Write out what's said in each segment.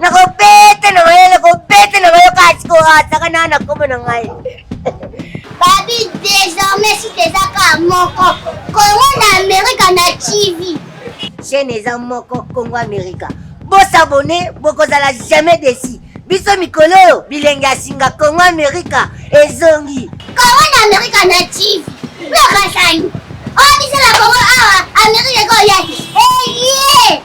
nakobete na maye nakobete na maye kasi koataka na na kombo na ngai babi désormais si teza ka moko kongo na amerika na tv chaîne eza moko kongo amerika bosabone bokozala jamais desi biso mikolo oyo bilenge ya singa kongo amerika ezongi kongo na amerika na tv lokasani oyo biso na kongo awa amerika ekoya eye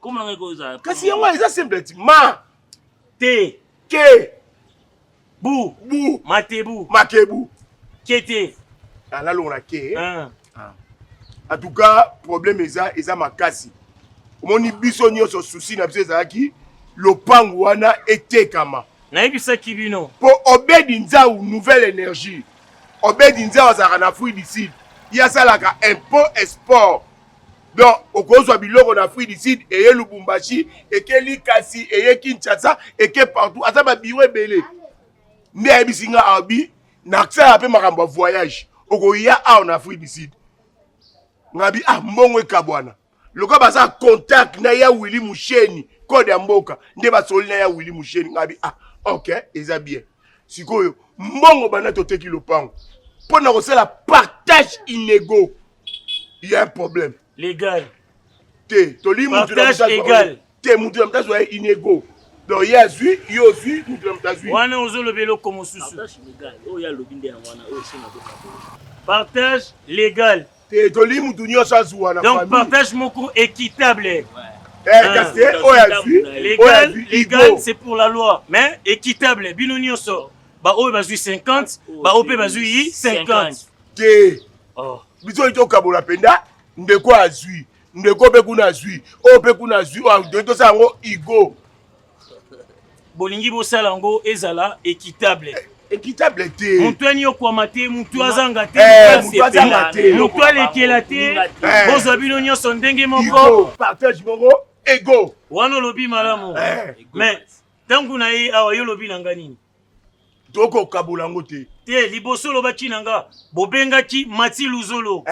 Comme na ngai ko eza. Kasi yango eza simple ti ma te ke bu bu matebu makebu kete alalongola ke ah. ah. en tout cas problème eza eza makasi omoni biso nyonso susi na biso ezalaki lopango wana etekama nayebisaki bino mpo obedi nzau nouvelle énergie obedi nzau azalaka na fruit du sud ye asalaka impôt esport donc okozwa biloko na afrique du sud eye lubumbashi eke likasi eye kinshasa eke partout aza babiro ebele nde ayebisi nga abi nasalaka mpe makambo ya voyage okoya awa na afrique du sud ngabi ah mbongo ekabwana lokola baza contact na ya willi musheni code ya mboka nde basoli na ya willi musheni ngabi ah ok eza bien sikoyo mbongo banda toteki lopango mpo na kosala partage inego il y a un problème légal te toli mutu na mutu égal te mutu na mutu azwa inego donc ye azwi ye ozwi mutu na mutu azwi wana ozoloba eloko mosusu partage légal te toli mutu nyonso azwa na donc partage moko équitable ouais. kasi eh, oyo azwi légal c'est pour la loi mais équitable bino nyonso baoyo bazwi 50 baoyo mpe bazwi 50 te oh. biso oyo tokabola mpenza ndeko azwi ndeko mpe kuna azwi oyo mpe kuna azwi oyo tosala yango igo bolingi bosala yango ezala équitable eh, équitable te motu aniokwama te motu azanga te eh, motu alekela te eh. bozwa bino nyonso ndenge moko partage moko ego wana olobi malamu mais ntango na ye awa yo olobi na ngai nini toko kabola yango te te liboso olobaki na nga bobengaki mati luzolo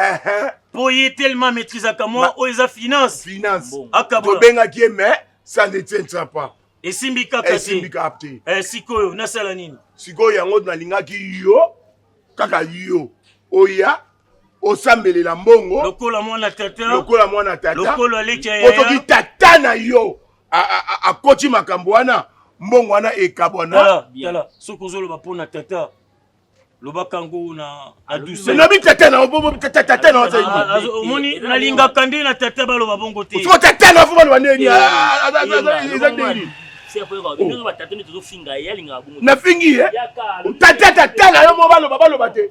mpo ye telema maîtrisaka mwa oyo eza finance finance tobengaki ye mais ça ne tiendra pas esimbi kaka esimbi kaka te eh, sikoyo nasala nini sikoyo yango nalingaki yo kaka yo oya osambelela mbongo lokola mwana tata lokola mwana tata lokola leka ya otoki tata na yo akoti makambo wana mbongo wana ekabwana tala soki ozoloba mpo na tata lobaka yango na na douceur na bitata na obo bitata tata na ozali ah, ah, omoni nalingaka nde na tata baloba bongo te soko tata na fo baloba ndeni eza ndeni nafingi ye tata tata na yo mo baloba baloba te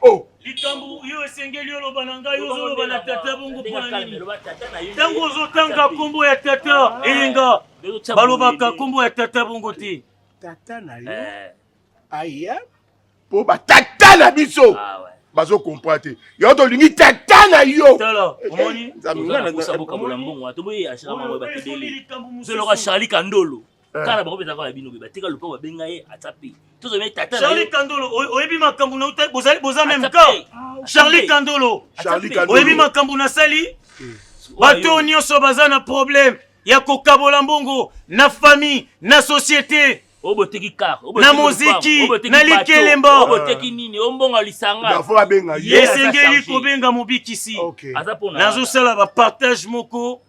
Oh. likambo yo esengeli oloba na ngai ozoloba na tata bongo mpo na nini ntango ozotanga nkombo ya tata ah. eyenga balobaka nkombo ya tata bongo te tata na yo eh. aya mpo batata na biso ah, bazo comprendre te yo tolingi tata na yo omoni nzambe ngai na bosaboka bola mbongo atoboye ashirama moye batebeli zoloka charlie kandolo Eh. kala bango mpenza kaka ya bino be batika lopango babenga ye atia pe tozomei tata charli kandolo oyebi makambo na utai bozali boza meme camp charli kandolo oyebi makambo nasali eh. bato oyo nyonso baza na problème ya kokabola mbongo na famille na société oboteki kar na moziki na likelemba oboteki nini ombonga lisanga esengeli kobenga mobikisi nazosala bapartage moko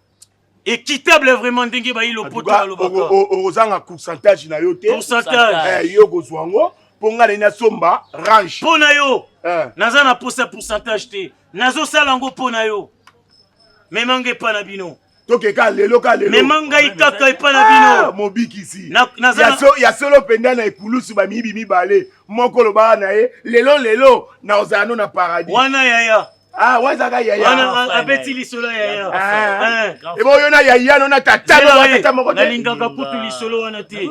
Equitable vraiment ndenge bayi lopoto balobaka. Okozanga pourcentage na yo te. Pourcentage. Eh yo kozwa ngo mpo ngai nayi nasomba range. Mpo na yo. Eh. Naza na posa pourcentage te. Nazosala ngo mpo na yo. Mema ngai epa na bino. tokeka lelo ka lelo mema ngai kaka epa na bino ah, mobikisi ya solo mpenza na ekulusu bamiyibi mibale moko lobaka na ye lelo lelo nakozala no na paradis wana yaya Ah, waza ga yaya. Wana abeti lisolo ya yaya. Ah. Eh. Ebo yo na yaya no na tata no na tata moko te. Nalingaka kutu lisolo wana te.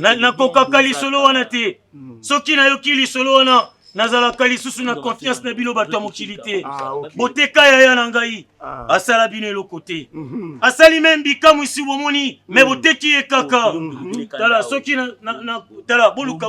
Na nakokaka lisolo wana te. Hmm. Soki nayoki lisolo wana nazalaka lisusu na confiance na bino bato ya mokili te ah, boteka yaya na ngai ah. asala bino eloko te mhm. asali meme bikamwisi bomoni me mm. boteki ye kaka mm. tala soki tala boluka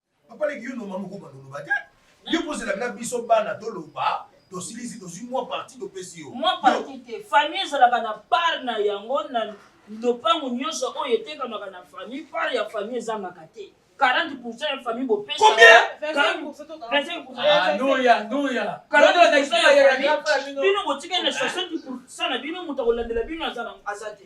Papa leki yo noma moko banoloba te. Yo kozela na biso bana toloba tosilisi tozwi mwa parti topesi yo. Mwa parti te. Famille ezalaka na part na yango na lopango nyonso oyo etekamaka na famille, part ya famille ezangaka te. 40% ya famille bopesa. Combien? 25%. Ah, noya, noya. 40% ya famille. Bino botikali na 60% na bino moto akolandela bino aza na aza te.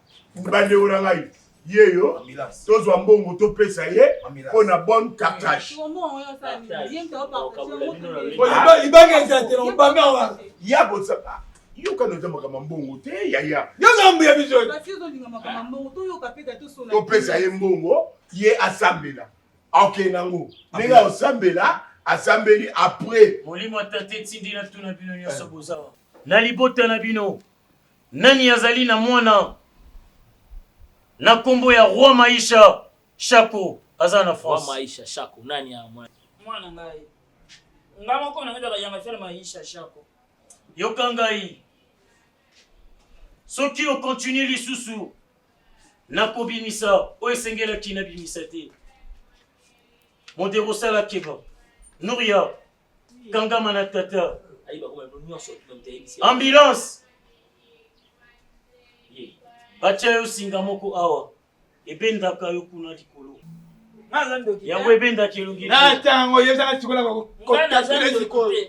bandeko na ngai yeyo tozwa mbongo topesa ye mpo na bonne cartage libanga eza te na obanga wana ya bosaka yoka na ozambaka mambongo te yaya yozambu ya biso topesa ye mbongo ye asambela oke nango ndenge osambela asambeli après molimo ya tata etindi natuna bino nyonso bozawa na libota na bino Nani azali na mwana na kombo ya roi maisha shako aza na france. Roi maisha shako nani a mwana. Mwana ngai nga moko na ngedaka yanga fier maisha shako. Yoka ngai soki o continue lisusu na kobimisa oyo esengelaki na bimisa te modero sala keba noria. kangama na tata ambulance batya yo singa moko awa ebendaka yo kuna likolo yango ebendaki elongi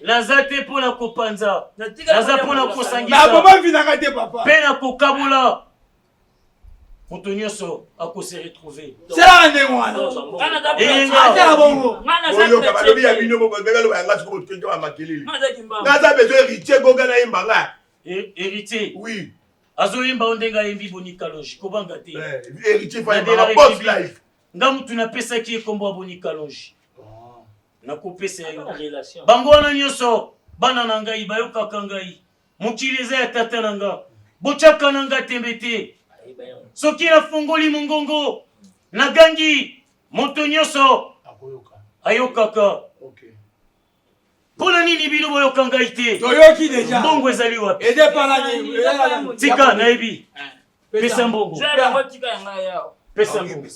naza te mpo na kopanza naza mpo na kosangisa mpe na kokabola moto nyonso akose retrouve sala ndenge wanaatala bongoyoka balobi ya bino bobebaloba yanga siko botukenke ba makelele naza bezo héritier goga nayemba nga héritier oui azoyemba o ndenge ayembi bonikaloji kobanga te héritier faibaaboslif nga motu napesaki ye nkombo ya bonikaloji nakopesa yo bango wana nyonso bana na ngai bayokaka ngai Mokili eza ya tata na nga, botyaka na nga tembe te. Soki nafungoli mongongo, nagangi, moto nyonso ayokaka. Mpo na nini bino boyoka ngai te? Toyoki deja. Mbongo ezali wapi? Edepalaki. Tika, nayebi. Pesa mbongo. Pesa mbongo.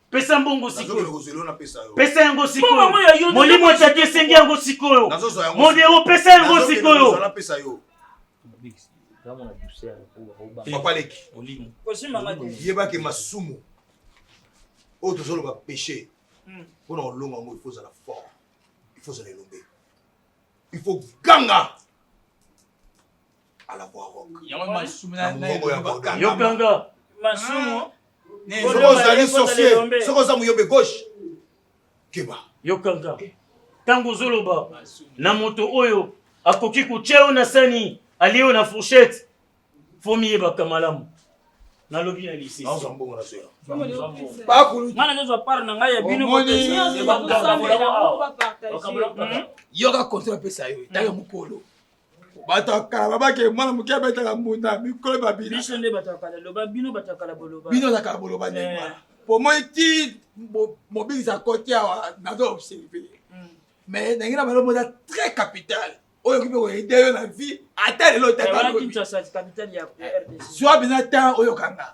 pesa mbongo sikoyo pesa yango sikoyo molimo etati esengi yango sikoyo modero pesa yango sikoyo yebaki masumu oyo tozoloba péché hmm. mpo na kolonga yango ifo ozala fort ifo ozala elombe ifo ganga yokanga masumu soki ozali sorcier soki oza moyombe gauche keba yokanga ntango ozoloba na moto oyo akoki kotya yo na sani alie yo na fourchette fo miyebaka malamu nalobi na lisesiana nazwa part na ngai ya binoyoka kontra apesa yo ntango mokolo bato ya kala babaki mwana moke abetaka mbunda mikolo babina biso nde bato ya kala loba bino bato ya kala boloba bino na kala boloba ndenge eh. wana po moi ti mobikisa koti awa nazo observe hmm. mais ndenge na balobo eza très capital oyo okoki koyede yo na vie ata lelo otatazwa bina temps oyokanga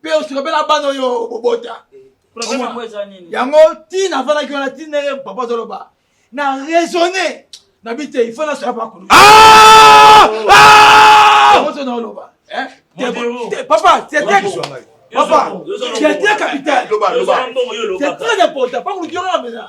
mpe osika mpe na bana oyo obobota yango ntina afandaki wana ntina ye papa azoloba na raisonne na bi te ifo nasala pakulu ah! ah! ozo na oloba eh? papa papa c'est très capital c'est très important pakulu kiona na bena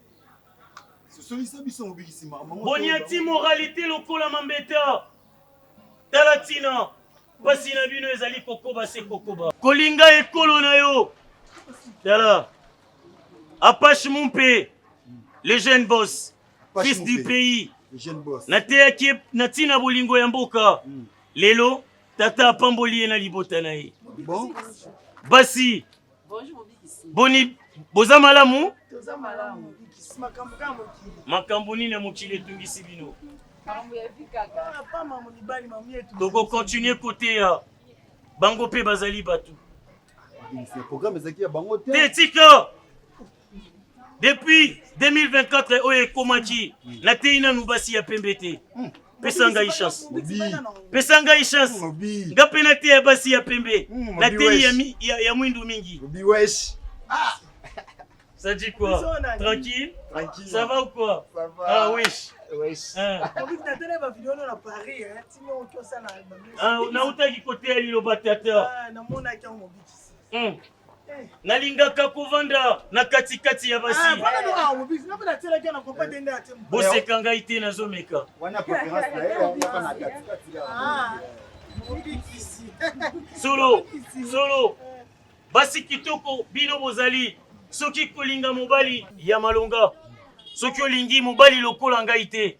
boniati moralite lokola mambeta tala ntina mpasi na bino ezali kokoba se kokoba kolinga ekolo na yo tala apache mumpe le jeune boss fils du pays nateyaki na ntina bolingo ya mboka hmm. lelo tata apamboli ye na libota na ye basi boni boza malamu makambo nini ya mokili etungisi bino tokokontinue koteya bango mpe bazali bato te tika depuis 2024 oyo ekomaki nateyi nanu basi ya pembe te pesa ngai chance pesa ngai chance nga mpe nateya basi ya pembe hmm, nateyi ya, ya mwindu mingi ah. Ça dit quoi Tranquille Tranquille. Ça va ou quoi Ça va. Ah oui. Wesh. Hein. Ah, nautaki koteya liloba tata ah, namonaki yango mobikisi hmm. nalingaka kovanda na katikati ya basi boseka ngai te nazomeka solo solo basi kitoko bino bozali soki kolinga mobali ya malonga soki olingi mobali lokola ngai te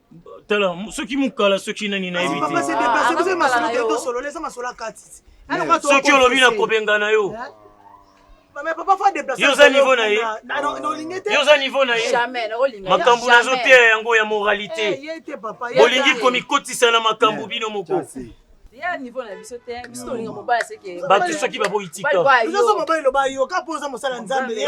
tala soki mukala soki nani nayebi tesoki olobi na kobengana yo yo oza niveau na ye yo oza niveau na ye makambo nazoteya yango ya moralité eh, bolingi komikotisa na makambo bino moko ya niveau na biso te biso tolinga mobali seke bato soki baboyi tika biso mobali loba yoka mpo oza mosala nzambe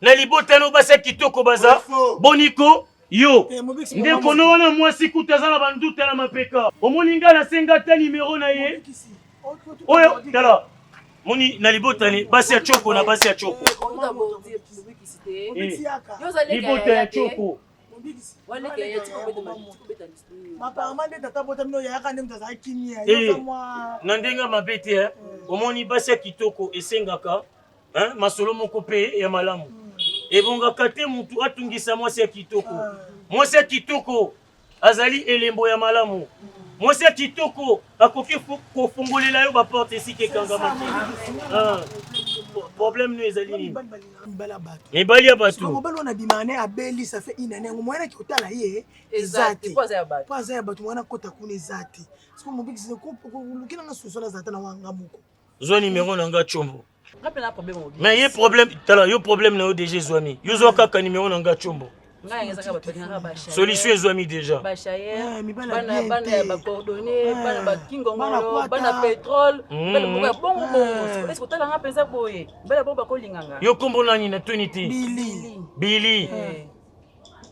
na libota no basi ya kitoko baza boniko yo eh, nde kono wana mwasi kutu aza na banduta na mapeka omoni ngai nasenga ata nimero na ye oyo tala moni na libotani basi ya coko na basi ya coko eh, eh, libota ya coko na ndenge mabe te omoni basi ya kitoko esengaka hein? masolo moko mpe ya malamu ebongaka te motu atungisa mwasi ya kitoko mwasi ya kitoko azali elembo ya malamu mwasi ya kitoko akoki kofungolela yo baporte esika ekangama te ah. problème no ezali nini mibali ya bato mobali wana abima ne abeli ça fait une année yango moyen naki otala ye eza te po aza ya bato moyen akota kuna eza te parce que mobikisi luki nanga soso nazala ata na wanga moko zwa numero na nga chombo mais ye problème tala yo problème na yo déjà ezwami yo zwa kaka numero na nga chombo solution ezwami déjà yo kombo nani na tuni te bili eh.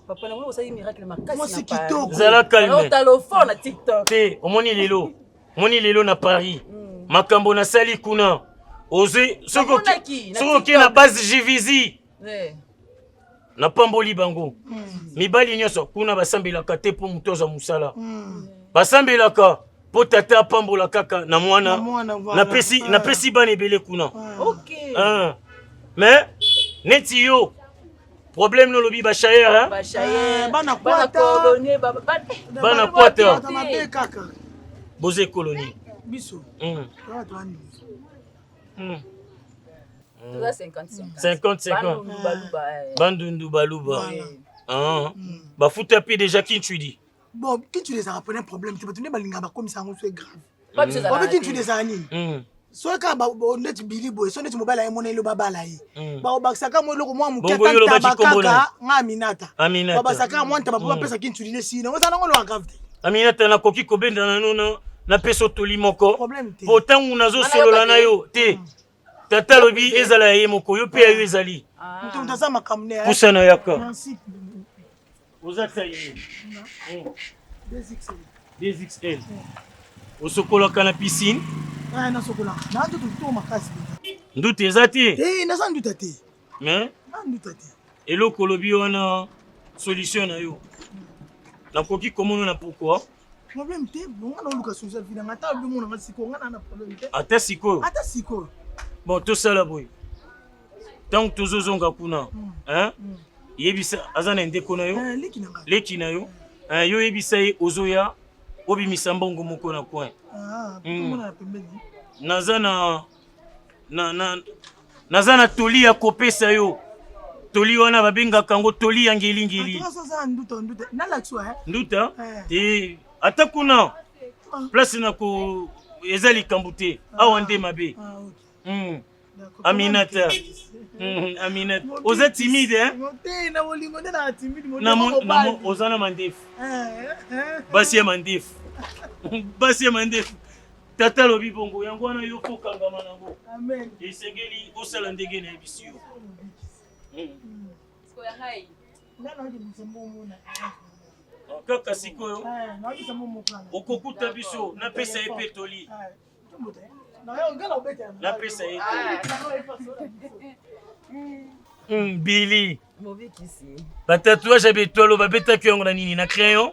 papa nango osali miracle makasi zala calme te omoni lelo moni lelo na paris mm. makambo nasali kuna ozwi soki okei na base jvisi eh. napamboli bango mm. mibali nyonso kuna basambelaka te mpo moto azwa mosala mm. basambelaka mpo tata apambola kaka na mwana napesi ah. bana ebele kuna ah. mais neti yo problème no lobi ba shayer hein ba shayer eh, bana kwata bana kwata boze colonie biso hmm. hmm. toza 50-50 bandundu baluba bafuta mpe déjà kinchwidi bon kintu ezalaka pona problème te bato nde balingaka bakomisa yango so grave obi kintu ezala nini mm. soki kaka neti bili boye so neti mobali aye mona elo babala ye mm. bakobakisaka mwa eloko mwa moke atantaba kaka nga aminata babakisaka mwa ntaba mpo mm. bapesa kintu line sino oza nango eloko grave te aminata nakoki kobenda nano napesa otoli moko mpo ntango nazosolola na yo te tata alobi ezala ya ye moko yo mpe ya yo ezali pusana yaka oza taille dxl osokolaka na piscine nduta eza te naza nduta te mais eloko olobi wana solution na yo nakoki komona na pourquoi problème te bonga naoluka solution ya vinanga ata alobi monanga sikoyo nga na problème te ata sikoyo ata sikoyo bon tosala boye ntango tozozonga kuna hmm. Hmm. yebisa aza na ndeko na yo eh, leki na yo eh, yo yebisa ye ozoya obimisa mbongo moko na coin ah, hmm. naza na na, na, naza na toli ya kopesa yo toli wana babengaka yango toli ya ngelingeli eh? nduta eh. te ata kuna ah. place na ko eza likambo te ah. awa nde mabe ah, hmm. aminata hmm, aminata oza timide eh? oza na mandefu eh, basi ya mandefu basi ya mandefu Tata alobi bongo, yango wana yo mpo okangama nango. Esengeli osala ndenge nayebisi yo. Ah, kaka sikoyo okokuta biso, napesa ye mpe toli. Napesa ye toli. Mbili. Batatuage ya betwalo babetaki yango na nini? Na crayon?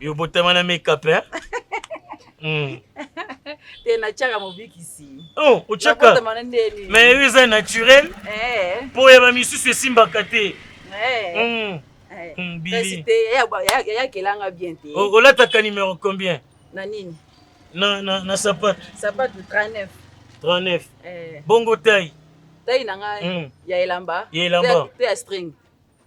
yo botama na makeup hein hmm. te natiaka mobikisi oh, otiaka mais yo eza naturel eh. mpo ya bamisusu esimbaka te eh. hmm. eh. hmm, bili yayakelanga bien te olataka numero combien na nini na, na, na sapatu sapatu 39 39 eh. bongo tai tai na ngai mm. ya elamba ya elamba te ya string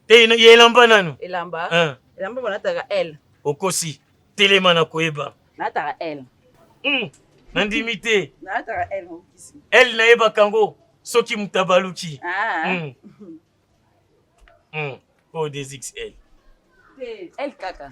te ino ye elamba nanu elamba eh. elamba banataka l okosi telema na koyeba nataka l mm. nandimi te nataka l mokisi l nayebaka yango soki moto abaluki ah. mm. mm. o oh, desixl te l kaka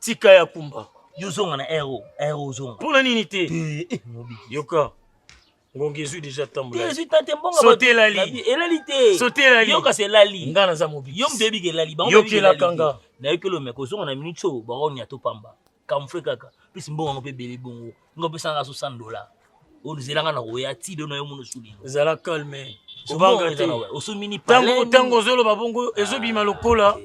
Tika ya kumba. Yo zonga na aero, aero zonga. Pona nini te? Eh, eh, Yoka. ngongi ezwi deja tambolelali elali te sotelali yo kasi elali nga naza mobiki yo moto oyebiki elali bangoyokelaka nga nayokeli omeka ozonga na minute oyo bango nyata opamba kamfre kaka mpesi mbongo yango mpe ebele bongo Ngo pesa nga 60 dollars. Onzela nga na koya ti do na yo mono sudi. Zala calme. Obanga te. Osumi ni pale. Tango tango zolo babongo ezobima lokola.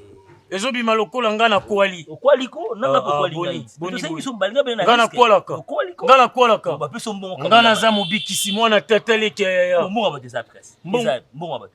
Ezobima lokola nga na kwali. Okwali ko na na kwali. Boni boni. Tosengi so mbalinga bena. Nga na kwala ka. Okwali ko. Nga na kwala ka. Ba peso mbongo. Nga na za mobikisi mwana tata leke ya ya. Mbongo ba des adresses. Mbongo ba.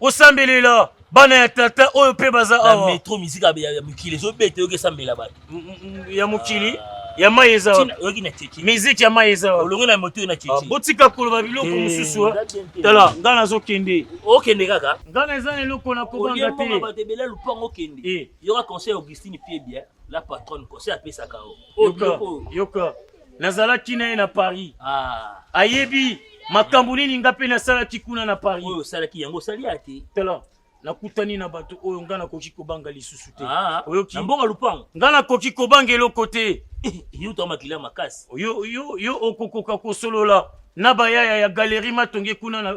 osambelela bana ya tata oyo mpe baza awa metro mizika ya mokili ezobeta yoki esambela bato mm, mm, mm, ya mokili ya mai eza oyoki na teki miziki ya mai eza olongi na moto na teki ah, botika koloba biloko eh, mosusu eh. tala ngai nazokende okende kaka ngai na eza na eloko na kobanga te bato ebele lupango okende eh. yoka conseil augustine piebia la patronne conseil apesaka o yoka nazalaki na ye na paris ah. ayebi makambo nini nga mpe nasalaki kuna na paris oyo osalaki yango osali ya te tala nakutani na bato oyo nga nakoki kobanga lisusu te ah, oyoki na mbongo lupango nga nakoki kobanga eloko te yo to makila makasi yo yo yo okokoka kosolola na bayaya ya galerie matonge kuna na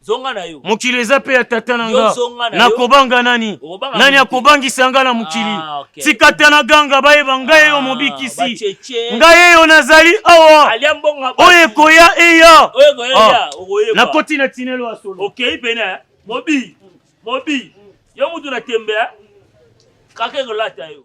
zonga na yo. Mokili eza pe ya tata na nga, nakobanga nani? Nani akobangisa nga na mokili? Ah, okay. Tikata na ganga bayeba ngai eyo ah, mobikisi, ngai eyo nazali awa, oyo ekoya eya, ah, nakoti na tinelo ya solo. Okei pene eh? mobi mobi, yo mutu na tembe eh? kaka ekolata yo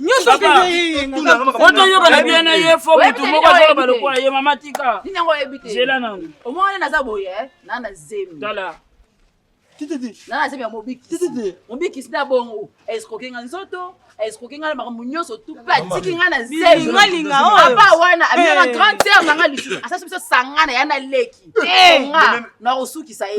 nyonso otoyokana bien na ye fo motu moko azoloba lokola ye mama tika zela nano omoni naza boye eh? na na zemi tala na na zemi ya mobikisi mobikisi na bongo escroke nga nzoto escroke nga na makambo nyonso tupe atiki nga na zemilingalinga oyo apa wana amiyaka grande sere na nga lisusu asasi biso sangana ya na leki nga na kosukisa ye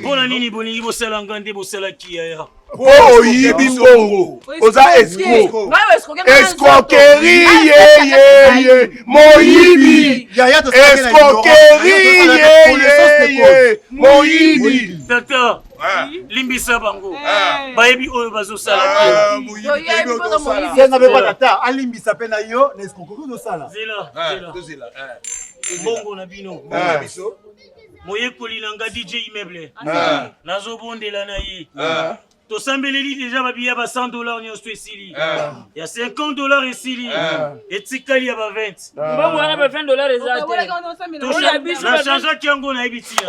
mpo na nini bolingi bosala nga nde bosalaki yaya po oyibi mbongo oza escroqueri yeyeye moyibi escroqueri yeyeye moyibi tata limbisa bango eh. bayebi oyo bazosala senga mpe batata alimbisa mpe na yo na escroqueri ozosala mbongo na bino moyekoli na nga dj immeuble ah. nazobondela na ye ah. tosambeleli deja babiya ba 100 dollar nyonso esili ah. ya 50 dollar esili etikali ya ba 20 mbango wana ba 20 dollar eza te nachangeaki yango nayebi tina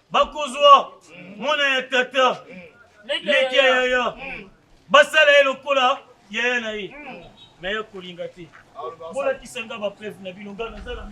bakozwa mwana ya tata leki ya yaya basala ye lokola yaya na ye me ya kolinga te bolakisa nga bapreve na bino nga nazala